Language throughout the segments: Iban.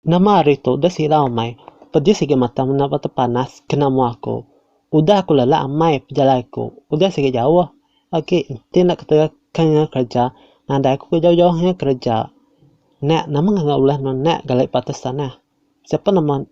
Nama ari tu deh sirau amai. Pedis agi mata menda ba tempat panas kena mua aku. Udah aku lelak amai pejalai aku. Udah sigi jauh agi enti enda keterus ke enga kereja nadai aku ke jauh-jauh enga kereja. Nek nama ngagai ulah nuan nek gali ba atas tanah. Siapa nama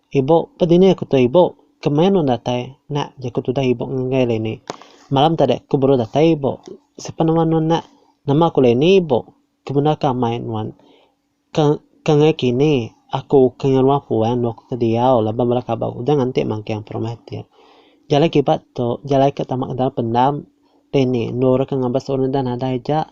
ibu pe dini aku tu ibu. Kemaya nuan datai nek jaku tudah ibu ngagai Leni. Malam tadi aku baru datai ibu. Siapa nama nuan nek. Nama aku Leni ibu. Ke bendar ke amai nuan. Ke ke ngai kini aku ke ngeluar puan lalu aku ke diau laban bala kaban udah nganti magang perumah ti. Jalai kiba tu jalai ke tama ke dalam pendam dini endur ke ngabas orang enda nadai ja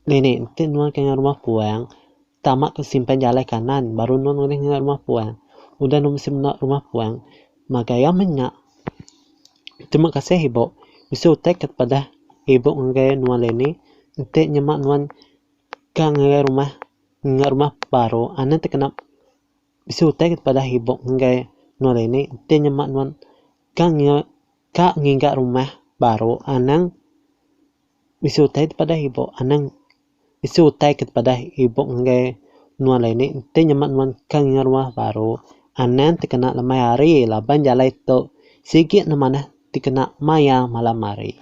dini enti nuan ke ngai rumah puan tama ke simpan jalai kanan baru nuan ulih ke ngai rumah puan. Udah nuan bisi menda rumah puan makai iya meh nya. Terima kasih ibu bisi utai ke pedah ibu ngagai nuan dini enti nyema nuan Ka ngagai rumah enggau rumah baru anu ti kena bisi utai ke padah ibup ngagai nuan ini enti nyema nuan ka ngiga ka ngiga rumah baru anang bisi utai ti padah ibup anang bisi utai ke padah ibup ngagai nuan lain ni enti nyema nuan ka ngiga rumah baru anang ti kena lemai hari laban jalai tu sigi ne manah ti kena maya malam hari.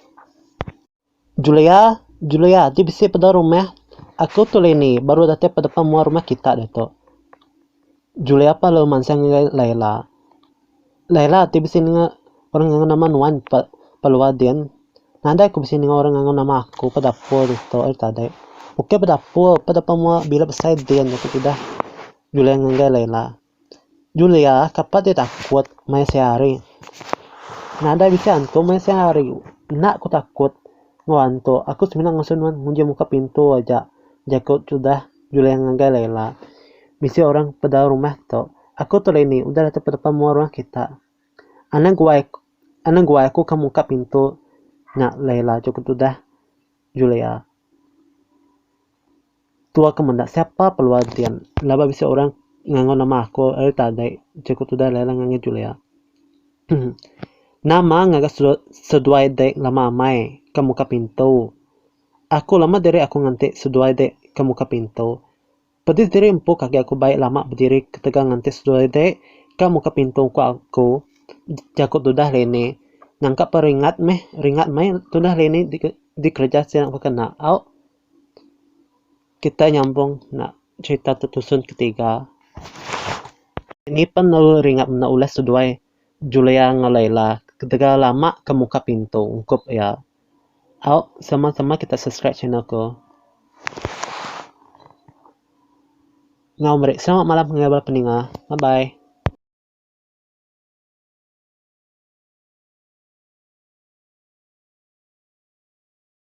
Julia, Julia, ti bisi peda rumah aku tu Leni baru datai pedepan mua rumah kita ditu. Julia pa lalu mansang ngagai Laila. Laila ti bisi ninga orang ngangau nama nuan pa pa luar din. Nadai ku bisi ninga orang ngangau nama aku pa dapur ditu ari tadi. Ukai pa dapur, pa depan mua bila besai din aku ti dah. Julia ngagai Laila. Julia kapat deh takut mai seh hari. Nadai bisi antu mai seh hari. Enda ku takut enggau antu. Aku semina ngasuh nuan nguji muka pintu aja, jaku tudah Julia ngagai Laila. Bisi orang pedau rumah tu. Aku tu Laini udah datu pedepa mua rumah kita. Anang guai anang guai aku ka muka pintu nya Laila, jaku tudah Julia. Tua ke menda siapa pelua din laba bisi orang ngangau nama aku ari tadi jeku tudah Laila ngan ngi Julia. nama ngaga seduai dek lama amai ke muka pintu. Aku lama diri aku nganti seduai dek ke muka pintu. Pedis diri empu ke agi aku bai lama bediri ketegal nganti seduai dek ke muka pintu ku aku jeku tudah Leni. Nangka pa ringat meh ringat meh tudah Leni dikereja sida ku kena au. kita nyambung enda cerita tu tusun ke tiga nyipen lalu ri ngak menda ulas seduai julia ngan laila ketegal ella lama ke muka pintu ungkup ia au sama sama kita subscribe channel ko ngau meri selamat malam ngagai bala peninga bye bye